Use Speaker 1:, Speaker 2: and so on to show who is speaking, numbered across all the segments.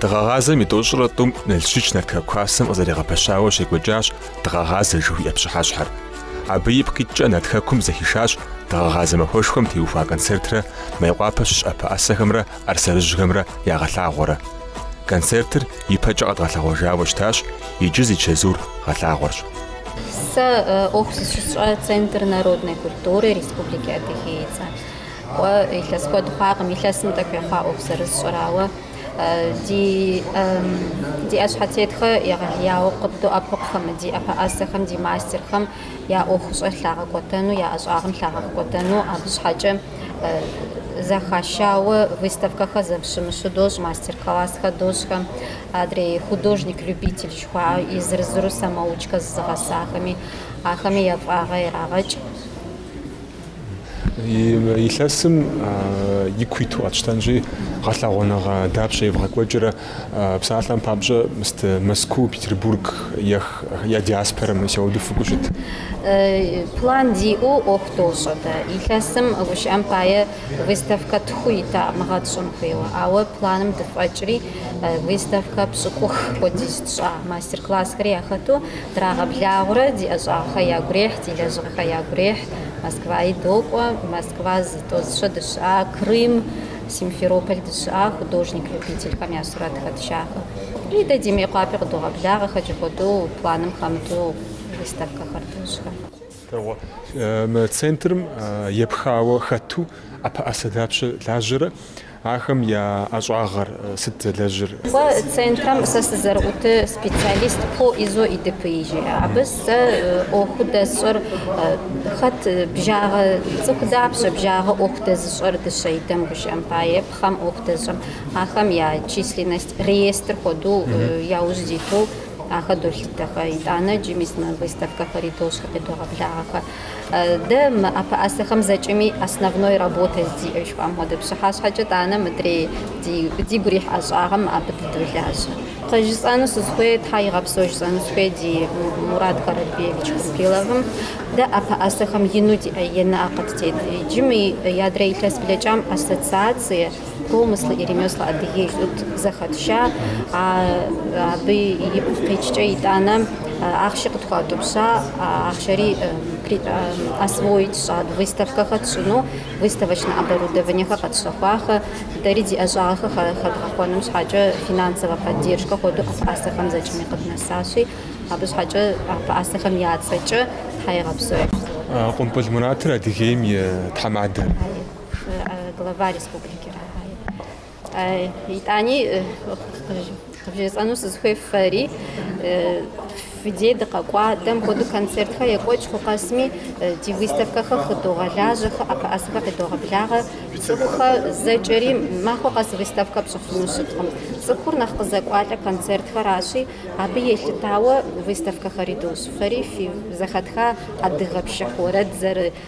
Speaker 1: Дыгъэгъазэм и тӏощӏрэ тӏум Налщыч Нарт хэку хасэм къызэригъэпэщауэ щекӏуэкӏащ Дыгъэгъазэ жыхуиӏэ пщыхьэщхьэр. Абы ипкъ икӏкӏэ Нарт хэкум зэхишащ Дыгъэгъазэ махуэшхуэм теухуа концертрэ Мейкъуапэ щыщ ӏэпэӏэсэхэмрэ ар сэрыжьхэмрэ я гъэлъагъуэрэ. Концертыр ипэкӏэ къэдгъэлъэгъуэжауэ щытащ, иджы зи чэзур гъэлъагъуэрщ. Сэ
Speaker 2: ӏуэху зыщысщӏэ Центр народной культуры Республики Адыгеи. Сэ, кӏуэ, илъэс куэд хъуакъым. Илъэсым тӏэкӏу ехъуа ӏуэху зэрысщӏэрауэ, ди ди ӏэщхьэтетхэ егъэлеяуэ къыддоӏэпыкъухэм, ди ӏэпэӏэсэхэм, ди мастерхэм я ӏуэхущӏэ лъагъэкӏуэтэну, я ӏэщӏагъэм лъагъэкӏуэтэну. Абы щхьэкӏэ. Зэхащауэ выставкэхэр зэщымыщу дощӏ, мастер-классхэр дощӏхэм, адрей художник-любитель жыхуаӏэу езыр-езыру самоучкэ зызыгъэсахэми, ахэми я фӏагъэ
Speaker 1: ирагъэкӏ. Илъэсым ику иту къэтщтэнщи, гъэлъэгъуэныгъэ дапщэ евгъэкӏуэкӏрэ? Псалъэм папщӏэ, мыст Мэзкуу, Петербург ех, я диаспорэм и сауду фыкӏуэу
Speaker 2: щыт. План диӏэу ӏуэху дощӏэ дэ. Илъэсым гущыӏэм пае выставкэ тху ита мыгъэ тщӏын хуейуэ. Ауэ планым дыфӏэкӏри, выставкэ пщӏыкӏух хуэдиз тщӏа, мастер-классхэри яхэту драгъэблагъурэ, ди ӏэщӏагъэхэр ягу рехь, ди лэжьыгъэхэр ягу рехь. Москваи докӏуэ, Москва зытӏозыщэ дыщыӏа Крым, Симферополь дыщыӏа художник-любительхэм я сурэтхэр тшахэ. И дэ ди Мейкъуапи къыдогъэблагъэ хэкӏ хуэдэу, планым хэмыту выставкэхэр дощӏхэр.
Speaker 1: Центрым епхауэ хэту ӏэпэӏэсэ дапщэ лажьэрэ, ахэм я ӏэщӏагъэр сыт зэлэжьыр? Центрым
Speaker 2: сэ сызэрыӏутыр специалист по ИЗО и ДПИ жиӏэ. Абы Сэ ӏуэху дэсщӏэр хэт бжагъэ цӏыху дапщэ бжагъэ ӏуэху дэзыщӏэр дыщэидэм гущыӏэм пае пхъэм ӏуэху дэзыщӏэм ахэм я численность реестр хуэдэу яужь диту ахэ долъытэхэ итӏанэ джы мис мы выставкэхэри дощӏхэ къедогъэблагъэхэ Дэ мы ӏэпэӏэсэхэм зэкӏэми основной работэ диӏэ жыхуаӏэм хуэдэ. Пщыхьэщхьэкӏэ тӏанэ мыдрей дигу рихь ӏэщӏагъэм абы дыдолажьэ. Къыжысӏэну сызыхуей, Тхьэ игъэпсэу жысӏэну сыхуей ди Мурат Каральбиевич Кумпиловым, дэ ӏэпэӏэсэхэм ину диӏэ и наӏэ къыттет. Иджы мы и адрэ илъэс блэкӏам ассоциацие, Промыслы и ремесла Адыгей лӏут зэхэтша, а абы ипкъ икӏкӏэ итӏанэ ахъши къытхуатӏупща, ахъшэри освоить тщӏат, выставкэхэр тщӏыну, выставочнэ оборудованиехэр къэтщэхуахэ, дэри ди ӏэщӏагъэхэр хэдгъэхъуэным щхьэкӏэ финансовэ поддержкэ хуэдэу ӏэпэӏэсэхэм зэкӏэми къыднэсащи, абы щхьэкӏэ ӏэпэӏэсэхэм я цӏэкӏэ Тхьэ игъэпсэу. Къумпӏыл
Speaker 1: Муратыр Адыгейм и тхьэмадэр.
Speaker 2: Глава республикэр. Итӏани къывжесӏэну сызыхуей фэри фи дей дыкъэкӏуа дэм хуэдэу концертхэр екӏуэкӏыху къэсми ди выставкэхэр хыдогъэлажьэхэ, ӏэпэӏэсэхэр къедогъэблагъэ. Цӏыхухэр зэкӏэри махуэ къэс выставкэ пщӏыфыну щыткъым. Цӏыхур нэхъ къызэкӏуалӏэ концертхэращи, абы елъытауэ выставкэхэри дощӏ. Фэри фи зэхэтха адыгэ пшыхь уэрэд зэры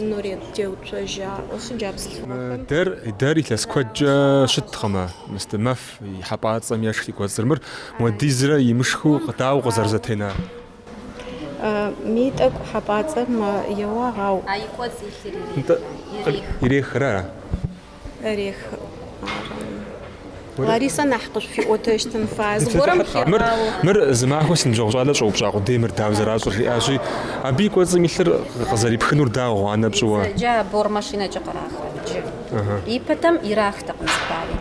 Speaker 3: Нурет Теуцожь аӏо сы джа бзылъфыгъэхэм. Дэр, дэр илъэс
Speaker 1: куэдкӏэ щыткъымэ, мыстэ мэф и хьэпӏацӏэм ешх дэ кӏуэцӏыр мыр, муэдизрэ имышхыу дауэ
Speaker 3: къызэрызэтенар? Ми тӏэкӏу хьэпӏацӏэм еуагъ, ау. А и кӏуэцӏ
Speaker 2: илъыр ирехрэ?
Speaker 1: Ирехрэ?
Speaker 3: Ларисэ нэхъ къышъуфиӏотэщтын фае. Зыгорэм хегъао. Мыр, мыр зы
Speaker 1: махуэ си ныбжьэгъу щӏалэ щӏэупщӏа къудей мыр дауэ зэращӏыр жиӏащи, абы и кӏуэцӏым илъыр къызэрипхынур дауэ, гъуанэ пщӏыуэ? Джа бор машинэкӏэ
Speaker 2: къырахрэ джы. Ипэтэм ирахтэкъым зыпари.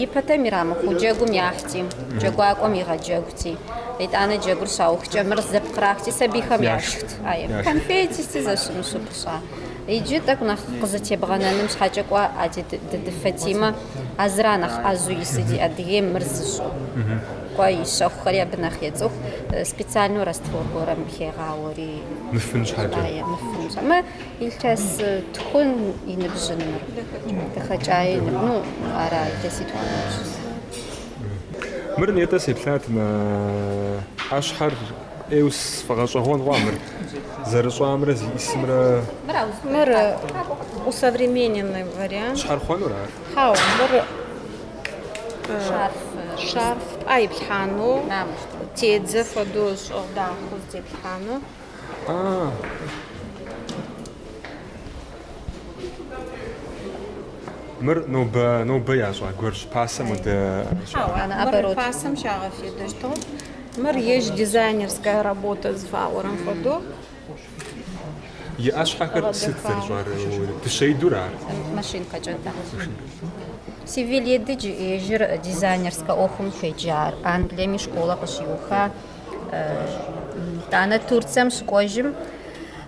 Speaker 2: Ипэтэм ирамыхыу джэгум яхьти, джэгуакӏуэм игъэджэгути, итӏанэ джэгур щаухкӏэ мыр зэпкърахти, сабийхэм яшхт. Конфети сыти зэщымыщу пыщӏа. Иджы тӏэкӏу нэхъ къызэтебгъэнэным щхьэкӏэ кӏуа а Дыды Фатимэ, а зыра нэхъ ӏэзэу ису ди Адыгейм мыр зыщӏу. Кӏуа и щэхухэри абы нэхъ ецӏыху, специальнэу раствор гуэрэм хегъауэри. Мыфын
Speaker 1: щхьэкӏэ. Ае, мыфын щхьэкӏэ.
Speaker 2: Мы илъэс тхун и ныбжьын мыр. Дахэкӏае и ныбжьын. Ну, ара илъэситхун и ныбжьын.
Speaker 1: Мыр нетӏэ сеплъат мы ӏэщхьэр. ӏейуэ сфӏэгъэщӏэгъуэн хъуа мыр? Зэрыщӏамрэ зиӏысымрэ?
Speaker 3: Мыр усовремененный вариант. Щхьэрыхъуэнур ар?
Speaker 1: Хьау, мыр
Speaker 3: шарф тӏа иплъхьанэу, тедзэ фэдэу щӏыгъ дахэу зытеплъхьанэу.
Speaker 1: А. Мыр нобэ нобэ ящӏа гуэрщ пасэм удэ. Хьау,
Speaker 3: мыр пасэм щагъэфедэщтыгъ. Мыр ежь дизайнерская работа зыфаӏорэм
Speaker 1: фэдэу. И ӏэщхьэхэр сыт зэрыщӏар? Дыщэидур ар? Машинкэкӏэ, да.
Speaker 2: Севил Едыдж ежьыр дизайнерскэ ӏуэхум хуеджар. Англиеми школэ къыщиуха. Итӏанэ Турцием щыкӏуэжым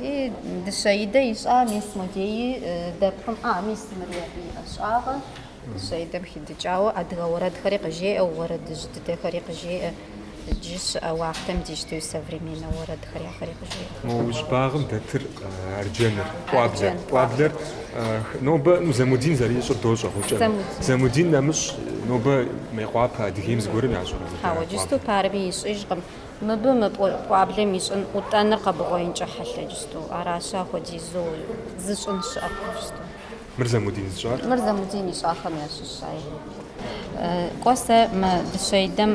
Speaker 2: И дыщэидэ ищӏа мис модеи дэпкъым, а, мис мыри абы и ӏэщӏагъэ, дыщэидэм хидыкӏауэ адыгэ уэрэдхэри къыжеӏэ, уэрэдыжь дыдэхэри къыжеӏэ, иджы щыӏэ уахътэм дищтэу современнэ уэрэдхэр яхэри къыжеӏэ. Мо уи щӏыбагъым
Speaker 1: дэтыр арджэныр, пӏуаблэр. Арджэн, Пӏуаблэр э, х- нобэ ну, Замудин зэрищӏыр дощӏэ Гъукӏэ Замудин. Замудин нэмыщӏ нобэ Мейкъуапэ Адыгейм зыгуэрым ящӏэрэ? Хьэуэ, джысту парми
Speaker 2: ищӏыжкъым. Мыбы мы пӏуаблэм и щӏын ӏутӏэныр къэбгъуеинкӏэ хьэлъэ джысту, аращи, апхуэдизу зыщӏын щыӏэкъым джысту. Мыр Замудин
Speaker 1: зыщӏар? Мыр Замудин ищӏахэм
Speaker 2: ящыщ, ай. Кӏуэ сэ мы дыщэидэм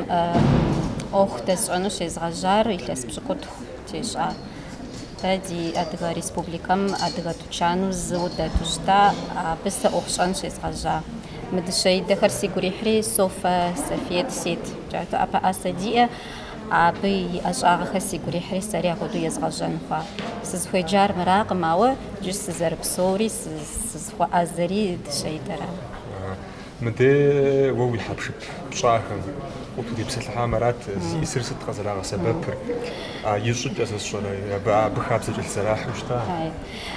Speaker 2: ӏуэху дэсщӏэну щезгъэжьар илъэс пщыкӏутху тещӏа. Дэ ди Адыгэ Республикэм адыгэ тучану зыу дэту щыта, абы сэ ӏуэху щӏэн щезгъэжьа. Мы дыщэидэхэр сигу ирихьри, Софэ, Софет, Сет, жаӏэу ӏэпэӏасэ диӏэ, абы и ӏэщӏагъэхэр сигу ирихьри, сэри апхуэдэу езгъэжьэн хъуа. Сызыхуеджар мыракъым, ауэ иджы сызэрыпсэури, сызыхуэӏэзэри дыщэидэра.
Speaker 1: Мыдэ уэ уи хьэпшып пщӏахэм укъытхутепсэлъыхьам арат зищӏысыр сыт къызэрагъэсэбэпыр, а и щӏыкӏэ зысщӏэрэ, абы хабзэ кӏэлъызэрахьэу щыта?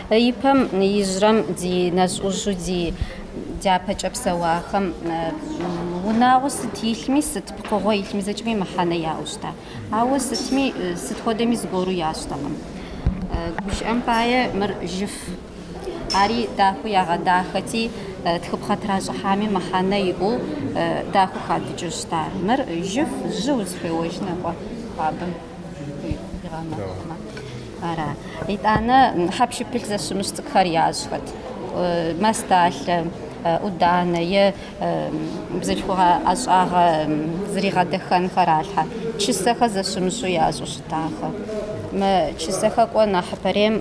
Speaker 1: Ипэм
Speaker 2: ижьрэм ди нэжь-ӏужьу ди дяпэкӏэ псэуахэм унагъуэ сыт илъми, сыт пкъыгъуэ илъми зэкӏэми мыхьэнэ яӏэу щыта. Ауэ сытми, сыт хуэдэми зыгуэру ящӏтэкъым. Гушыӏэм пае мыр жьыф. Ари дахэу ягъэдахэти, тхыпхъэ тращӏыхьами мыхьэнэ иӏэу дахэу хадыкӏыу щыта. Мыр жьыф, жьы узыхуеуэжынэ кӏуэ хуабэм. Ара, итӏанэ хьэпшыпылъ зэщымыщ цӏыкӏухэр ящӏхэт? Масталъэ, ӏуданэ е бзылъхугъэ ӏэщӏагъэ зригъэдэхэнхэр ралъхьэ. Чысэхэр зэщымыщу ящӏу щытахэ. Мы чысэхэр кӏуэ нэхьыпэрейм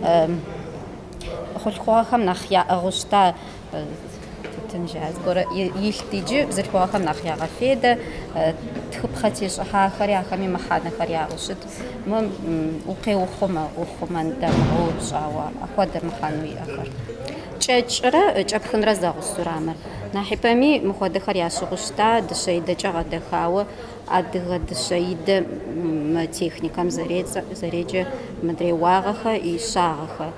Speaker 2: хъулъхугъэхэм нэхъ яӏыгъыу щыта. Тутын е зыгуэрэ илът, иджы бзылъхугъэхэм нэхъ ягъэфедэ, тхыпхъэ тещӏыхьахэри ахэми мыхьэнэхэр яӏэу щыт. Мы укъеухъумэ, ухъумэн дамыгъэу щӏауэ ахуэдэ мыхьэнэу иӏэхэр. Кӏэкӏрэ кӏэпхынрэ зэгъусэурэ мыр. Нэхьыпэми мыхуэдэхэр ящыгъу щыта, дыщэидэкӏэ гъэдэхауэ адыгэ дыщэидэ мы техникэм зэрецӏэ, зэреджэ мыдрей уагъэхэри щагъэхэри,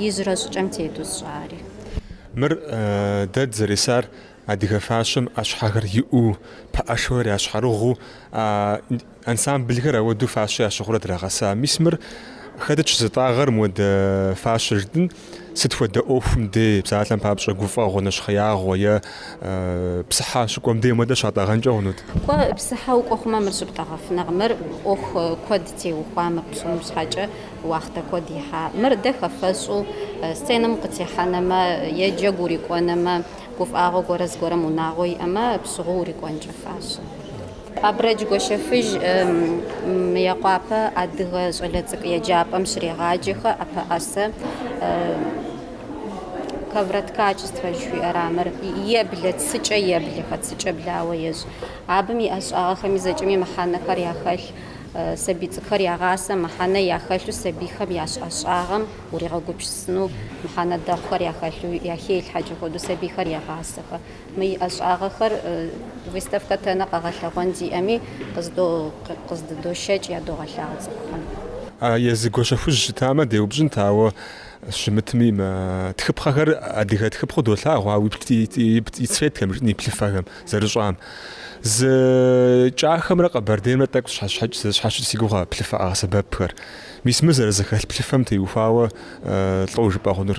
Speaker 2: ижьрэ щӏыкӏэм тету сщӏари.
Speaker 1: Мыр дэ дызэресар адыгэ фащэм ӏэщхьэхэр иӏэу, пэӏэшхуэр ящхьэрыгъыу, ансамблхэр ауэдэу фащэ ящыгъурэ драгъэса. Мис мыр хэтыт щызытӏагъэр мыуэдэ фащэ жытӏын? Сыт хуэдэ ӏуэхум де, псалъэм папщӏэ, гуфӏэгъуэ, нэщхъеягъуэ е псыхьэ щыкӏуэм де мыуэдэ щатӏэгъэнкӏэ хъунут? Кӏуэ, псыхьэ
Speaker 2: укӏуэ хъумэ, мыр щыптӏэгъэфынэкъым. Мыр ӏуэху куэд теухуа мыр пщӏыным щхьэкӏэ. Уахътэ куэд ихьа мыр дэ хэфэщӏу сценэм укъытехьэнэмэ е джэгу урикӏуэнэмэ, гуфӏагъуэ гуэрэ зыгуэрым унагъуэ иӏэмэ, пщыгъыу урикӏуэнкӏэ фащэ. Абрэдж Гуащэфыжь Мыекъуапэ адыгэ щӏалэ цӏыкӏу еджапӏэм щрегъаджэхэ ӏэпэӏэсэ ковроткачество жыхуиӏэра мыр, еблэ цыкӏэ еблэхэ, цыкӏэ блауэ ещӏ. Абым и ӏэщӏагъэхэми зэкӏэми мыхьэнэхэр яхэлъ. Сабий цӏыкӏухэр ягъасэ мыхьэнэ яхэлъу сабийхэм ящӏ ӏэщӏагъэм уригъэгупщысыну, мыхьэнэ дэгъухэр яхэлъу яхелъхьэкӏэ хуэдэу сабийхэр егъасэхэ. Мы и ӏэщӏагъэхэр выставкэ тэнэ къэгъэлъэгъуэн зиӏэми къыздыдошэкӏ ядогъэлъагъу цӏыхухэм.
Speaker 1: Езы Гуащэхужь щытамэ, деупщӏынт, ауэ щымытми, мы тхыпхъэхэр адыгэ тхыпхъэу долъагъу ауэ и цветхэм, жытӏэм, и плъыфэхэм. Зэрыщӏам. Зы Кӏахэмрэ Къэбэрдеймрэ тӏэкӏу зэщхьэщыкӏ си гугъэ плъыфэ къагъэсэбэпхэр. Мис мы зэрызэхэлъ плъыфэм теухуауэ лӏо жыпӏэ хъунур,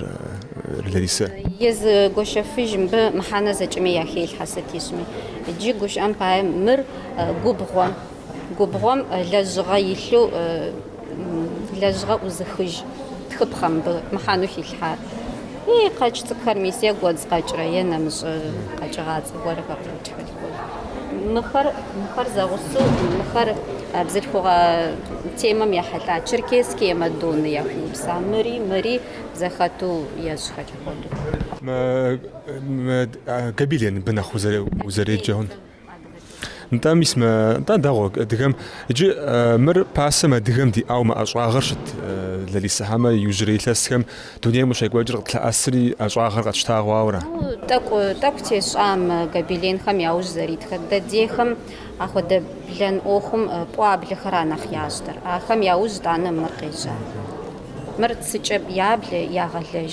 Speaker 1: Ларисэ?
Speaker 2: Езы Гуащэфыжь мыбы мыхьэнэ зэкӏэми яхелъхьэ сыт ищӏми. Иджы гущыӏэм пае мыр губгъуэм, губгъуэм лэжьыгъэ илъу Лэжьыгъэ ӏузыхыж тхыпхъэ мыбы мыхьэну хилъхьар. И къэкӏ цӏыкӏухэр, мис е гуэдз къэкӏрэ, е нэмыщӏэ къэкӏыгъацӏэ гуэрэхэр кӏыуэ хэлъхэу. Мыхэр, мыхэр зэгъусэу, мыхэр а бзылъхугъэ темэм ехьэлӏа Черкесские мадонны яхуэупса мыри, мыри зэхэту ещӏ хэлъ хуэдэу.
Speaker 1: Гобелен мыбы нэхъ узэреджэ хъун. Нтӏэ, мис мэ, нтӏэ, дэгъуэ, адыгэм. Иджы мыр пасэм адыгэм диӏауэ мы ӏэщӏагъэр щыт Ларисэ хьэмэ иужьрей илъэсхэм дунейм къыщекӏуэкӏыр къытлъэӏэсри ӏэщӏагъэр къэтщтагъауэра? Тӏэкӏу,
Speaker 2: тӏэкӏу тещӏа мы гобеленхэм яужь зэритхэр. Дэ дейхэм ахуэдэ блэн ӏуэхум пӏуаблэхэра нэхъ ящӏтэр. Ахэм яужь тӏанэ мыр къежьа. Мыр цыкӏэ яблэ, ягъэлэж.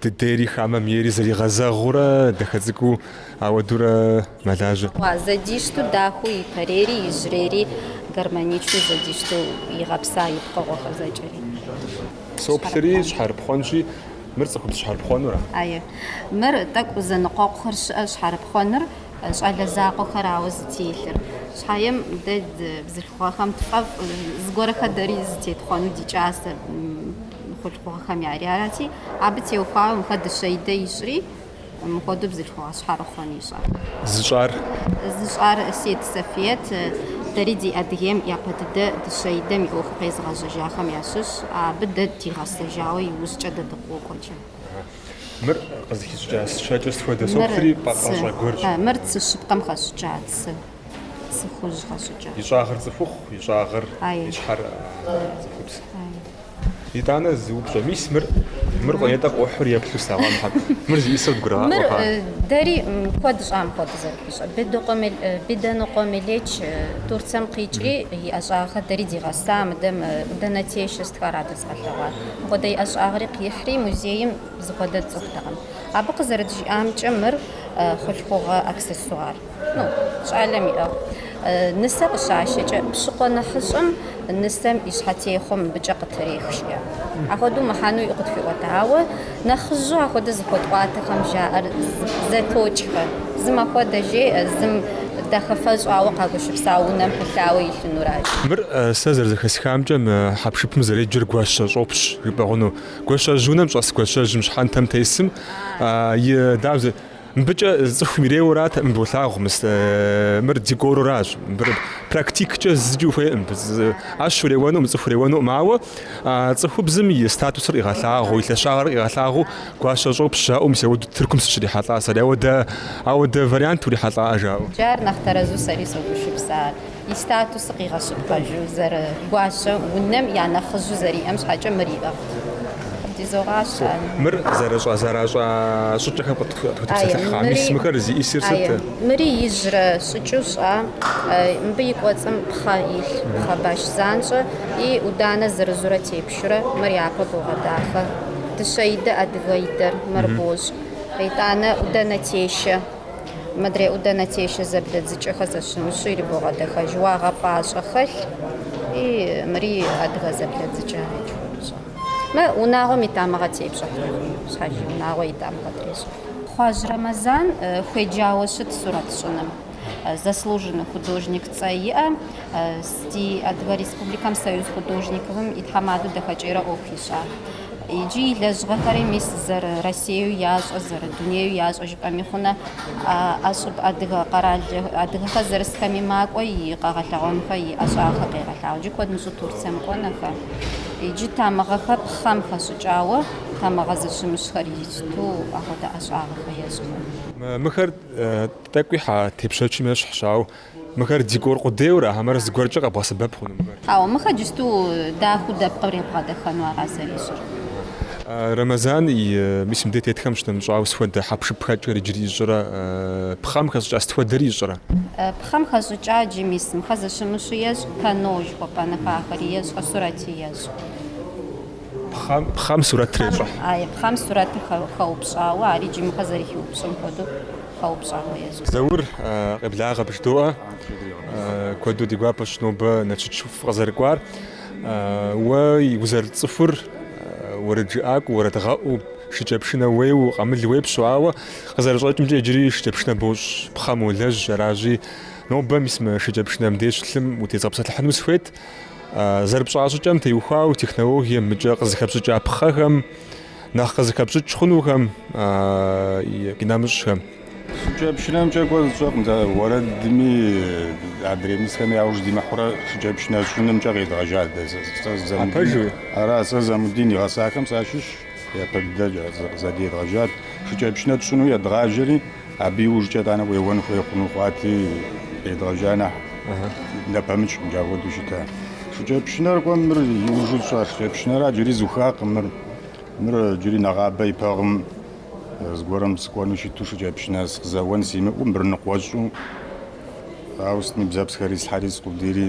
Speaker 1: Дыдейри хамэм ейри зэригъэзэгъыурэ дахэ цӏыкӏуу ауэдурэ мэлажьэ. Ва,
Speaker 2: зэдищтэу дахэу ипэрейри, иджырейри гармоничнэу зэдищтэу игъэпса и пкъыгъуэхэр зэкӏэри. Соплъри,
Speaker 1: щхьэрыпхъуэнщи, мыр цӏыхубз щхьэрыпхъуэнура?
Speaker 2: Ае. Мыр тӏэкӏу зэныкъуэкъухэр щыӏэ щхьэрыпхъуэныр, щӏалэ закъуэхэрауэ зытелъыр. Щхьэем дэ бзылъхугъэхэм тфӏэфӏ зыгуэрхэ дэри зытетхъуэну ди кӏасэ. хъулъхугъэхэм ярати, абы теухуауэ мыхэ дыщэидэ ищӏри, мыхуэдэу бзылъхугъэ щхьэрыхъуэн ищӏа. Зыщӏар? Зыщӏар Сет Сафиет, дэри ди Адыгейм япэ дыдэ дыщэидэм и ӏуэху къезыгъэжьэжахэм ящыщщ, абы дэ дигъэсэжауэ иужькӏэ дэ дыкъокӏуэкӏэ. Мыр къызыхищӏыкӏа цы
Speaker 1: щэкӏыр сыт хуэдэ? Соплъри пӏэпӏэщӏэ гуэрщ. Мыр цы щыпкъэм
Speaker 2: хэщӏыкӏа цы. Цӏыхужь къэщӏыкӏэ. И щӏагъыр цӏыхухъу,
Speaker 1: и щӏагъыр, Ай. и щхьэр а, цӏыхубз. Итӏанэ зы упщӏэ. Мис мыр, мыр къо- етӏэ къохьур еплъу слъэгъуам хьэку. Мыр зиӏисэу Мыр дгурыгъаӏуэ хъа. э, дэри
Speaker 2: м, куэд щӏам хуэдэ зэрыхуищӏэр. Бедокъуэ Мел- э, Беданыкъуэ Мелеч э, Турцэм къикӏри, и ӏэщӏагъэхэр дэри дигъэса, мыдэм э, Удэнэ Тей щыстхар адэ зыкъэлъэгъуар. Мыпхуэдэ и ӏэщӏагъэри къихьри, музейм зыхуэдэ тцӏыхутэкъым. Абы къызэрыджиӏамкӏэ, мыр э, хъулъхугъэ аксессуар. Ну, щӏалэм иӏыгъ. Нысэ къыщащэкӏэ, пщыкъуэ нэхъыщӏэм нысэм и щхьэтехъуэ мыбыкӏэ къытрех, жиӏэ. Апхуэдэу мыхьэнуи къытхуиӏуэта. Ауэ нэхъыжьу апхуэдэ зыхуэтӏуатэхэм жаӏэр зэтокӏхэ. Зым апхуэдэ жеӏэ, зым дахэфэ щӏауэ къагущыпса унэм пылъауэ илъынуращ. Мыр,
Speaker 1: сэ зэрызэхэсхамкӏэ, мы хьэпшыпым зэреджэр гуащэ щӏопщ жыпӏэ хъуну. Гуащэжь унэм щӏэс гуащэжьым щхьэнтэм тесым и, дауэ зы. Мыбыкӏэ цӏыхум иреуэрат, мыбы улъагъу, мыр декоруращ, мыбыр практиккӏэ зыкӏи ухуейкъым, ӏэщ уреуэнукъым, цӏыху уреуэнукъым, ауэ цӏыхубзым и статусыр къигъэлъагъуу, и лъэщагъыр къигъэлъагъуу гуащэ щӏопщ жаӏэу, мис ауэдэ Тыркум сыщрихьэлӏа сэри, ауэдэ вариант урихьэлӏа жаӏэу. Джар нэхъ тэрэзу
Speaker 2: сэри согушыпс ар. и статусыр къигъэщыпкъэжу зэрыгуащэ, унэм я нэхъыжьу зэриӏэм щхьэкӏэ мыр иӏыгът. Къыддизогъащ ар.
Speaker 1: Мыр зэрыщӏа зэращӏа щӏыкӏэхэм къытхутепсэлъыхь мис мыхэр зиӏисыр сыт? Мыри ижьрэ
Speaker 2: щӏыкӏэу щӏа, мыбы и кӏуэцӏым пхъэ илъ, пхъэ баш занщӏэ, и ӏуданэ зырызурэ тепшурэ мыр япэ богъэдахэ. Дыщэидэ адыгэидэр мыр бощӏ. Итӏанэ ӏудэнэтешэ. Мыдрей ӏудэнэ тешэ зэблэдзыкӏэхэр зэщымыщу ирибогъэдэхэж уагъэпӏащӏэ хэлъ и мыри адыгэ зэблэдзыкӏэ ичхурыщӏэ. Мы унагъуэм и тамыгъэ тепщӏыхьрэ? Щхьэж и унагъуэ и тамыгъэ трещӏыхьрэ? Хъуажь Рэмэзан хуеджауэ щыт сурэт щӏыным. Заслуженный художник цӏэ иӏэ, ди Адыгэ Республикэм Союз художниковым и тхьэмадэу дахэкӏейрэ ӏуэху ищӏа. Иджы и лэжьыгъэхэри мис зэры Россиеу ящӏэ, зэры дунею ящӏэ жыпӏэми хъунэ, ӏэщӏыб адыгэ къэрал адыгэхэр зэрысхэми макӏуэ и къэгъэлъэгъуэнхэ, и ӏэщӏагъэхэ къегъэлъагъу. Иджы куэд мыщӏу Турцэм кӏуэнэхэ. Иджы тамыгъэхэ пхъэм хэщӏыкӏауэ тамыгъэ зыщымыщхэр ищту ахуэдэ ӏэщӏагъэхэ ещӏхэ. Мыхэр
Speaker 1: тӏэкӏуи хьэ тепщэчым ещхьщ, ауэ Мыхэр декор къудейура, хьэмэрэ зыгуэркӏэ къэбгъэсэбэп хъуну мыхэр? Хьэуэ, мыхэр
Speaker 2: джысту дахэу дэпкъыр ебгъэдэхэну ара зэрищӏыр.
Speaker 1: Рэмэзан и, мис мыбдей тетхэм щынэмыщӏауэ сыхуэдэ хьэпшыпхэкӏыр иджыри ищӏрэ, пхъэм хэщӏыкӏа сытхуэдэри ищӏрэ? Пхъэм
Speaker 2: хэщӏыкӏа иджы, мис, мыхэр зыщымыщу ещӏ, панно жыхуэпӏэнухэ ахэри ещӏ, сурэти ещӏ.
Speaker 1: Пхъэм сурэт трещӏыхь. Пхъэм
Speaker 2: сурэтыр хэупщӏауэ, ари джымыхъэ зэрыхиупщӏым
Speaker 1: хуэдэу хэупщӏауэ ещӏэ. Заур къеблагъэ бжыдоӏэ, куэду ди гуапэщ нобэ Налшык фыкъызэрыкӏуар. Уэ узэрыцӏыхур уэрэджыӏакӏуэу, уэрэдгъэӏуу, шыкӏэпшынэ уеуэу, къамыл уепщэу, ауэ къызэрыщӏэкӏымкӏэ иджыри шыкӏэпшынэ бощӏ, пхъэм уолэжь, аращи, нобэ мис мы шыкӏэпшынэм деж лъым утезгъэпсэлъыхьыну сыхуейт. Зэрыпщӏа щӏыкӏэм теухуауэ технологиемкӏэ къызыхэпщӏыкӏа пхъэхэм, нэхъ къызыхэпщӏыкӏ хъунухэм, къинэмыщӏхэм. Шыкӏэпшынэмкӏэ
Speaker 4: кӏуэ сщӏэкъым дэ уэрэдми адрей мысхэм яуж димыхьэурэ шыкӏэпшынэ щӏынымкӏэ къедгъэжа дэ Апэжу? Ара сэ Замудин игъэсахэм сащыщ, япэ дыдэ къызэдедгъэжат. Шыкӏэпшынэ тщӏыну едгъажьэри, Абы иужькӏэ итӏанэ уеуэн хуей хъуну хъуати, къедгъэжьа нэхъ нэпэмыкӏ мыджэ апхуэдэу щыта. Шыкӏэпшынэр кӏуэ мыр иужьу тщӏа шыкӏэпшынэра джыри зухакъым мыр. Мыр джыри нэгъабэ ипэ гъэм зыгуэрым сыкӏуэну щыту шыкӏэпшынэ сыкъызэуэн симыӏэу мыр ныкъуэщӏу, ауэ сытми бзэпсхэри слъхьэри скъудийри.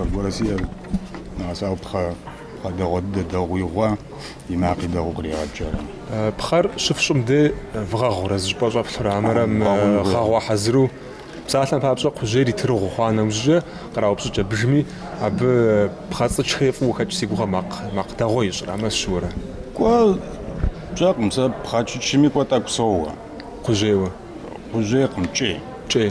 Speaker 4: Аргуэру сиӏэр нэгъэсауэ пхъэ пхъэ дэгъуэ дыдэ дэгъуи гъуа, и макъи дэгъу кърегъэкӏ.
Speaker 1: Пхъэр щыфщӏым де вгъэгъурэ зы щӏыпӏэ щӏэплъурэ хьэмэрэ гъэгъуа хьэзыру псалъэм папщӏэ кхъужьейр и тырыгъу хъуа нэужькӏэ къраупщӏыкӏэ бжми, абы пхъэцӏычхэри фӏыуэ хэкӏ си гугъэ макъ макъ дэгъуэ ищӏыр, хьэмэ сыщыуэрэ.
Speaker 4: Кӏуэ сщӏэкъым, сэ пхъэкӏычми кӏуэ тӏэкӏу соуэ. Кхъужьейуэ.
Speaker 1: Кхъужьейкъым,
Speaker 4: кӏей. Кӏей.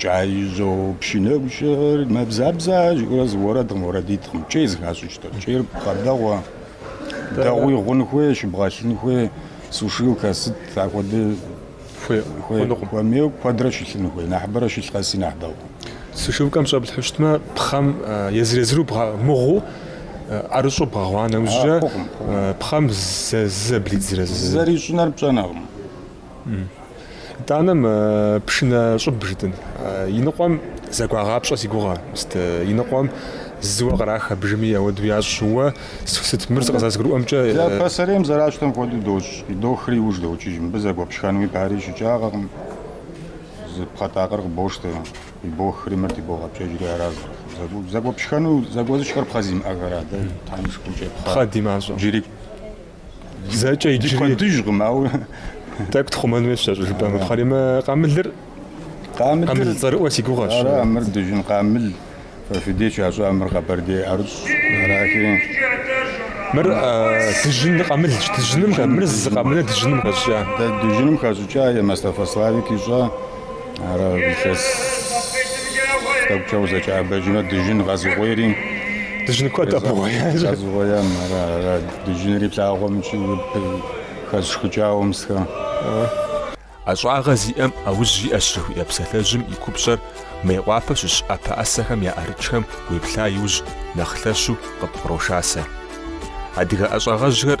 Speaker 4: Кӏеижьо пшынэгущэр мэбзабзэ жиӏэурэ зы уэрэдкъым, уэрэдитӏкъым, кӏей зыхащӏыкӏтэр. Кӏейр пхъэ дэгъуэ, дэгъуи гъун хуей, щыбгъэлъын хуей, сушилкэ сыт, ахуэдэ хуей, хуэмейуэ куэдрэ щылъын хуей, нэхъыбэрэ щылъ къэси нэхъ дэгъуэ. Сушилкэм
Speaker 1: щӏэплъхьэу щытмэ, пхъэм езыр-езыру мыгъуу ӏэрыщӏу бгъэгъуа нэужькӏэ пхъэм зэблидзрэ зы. Зэрищӏынэр
Speaker 4: пщӏэнэкъым.
Speaker 1: Итӏанэ мы пшынэ щӏыб жытӏэн. Иныкъуэм зэгуагъапщӏэ си гугъэ, мыст иныкъуэм зыуэ кърах абыжми ауэду ящӏ. Уэ сыт мыр зы къызэрызгурыӏуэмкӏэ? Дэ пасэрейм
Speaker 4: зэращӏтэм хуэдэу дощӏ, дохри иуж докӏыж. Мыбы зэгуэпшхэнуи пари ищыкӏагъэкъым. Зы пхъэтакъыр къыбощтэ, ибохри мыр тыбогъэпкӏэжри ара. Зэгуэпшхэну зэгуэзышхэр пхъэ зимыӏэхэра, дэ тхьэм и шыкуркӏэ пхъэ димащӏэу.
Speaker 1: Джыри Зэкӏэ иджыри куэдыжкъым,
Speaker 4: ауэ тӏэкӏу
Speaker 1: тхъумэн хуейщ зэщӏ жыпӏэмэ пхъэри. Мы къамылыр. Къамылыр. Къамыл цӏэрыӏуэ си гугъэщ. Ара, мыр дыжьын
Speaker 4: къамыл. Фэ фи деж ящӏа мыр Къэбэрдей ӏэрыщӏ
Speaker 1: арахи. Мыр дыжьын къамылщ, дыжьыным, мыр зы къамылыр дыжьыным хэщӏыкӏа. Дэ дыжьыным хэщӏыкӏа
Speaker 4: е Мастафэ Славик ищӏа? Ара илъэс тӏэкӏукӏэ узэкӏэӏэбэжмэ, дыжьын къэзыгъуейри. Дыжьын куэд
Speaker 1: къэбгъуеящ. Къэзыгъуеям, ара,
Speaker 4: ара, дыжьынри плъагъуэми хэсщӏыкӏауэ мысхэр.
Speaker 1: Ӏэщӏагъэ зиӏэм ӏэужь иӏэщ жыхуиӏэ псалъэжьым и купщӏэр Мейкъуапэ щыщ ӏэпэ ӏэсэхэм я ӏэрыкӏхэм уеплъа иужь нэхъ лъэщу къыпкъырошасэ. Адыгэ ӏэщӏагъэжьхэр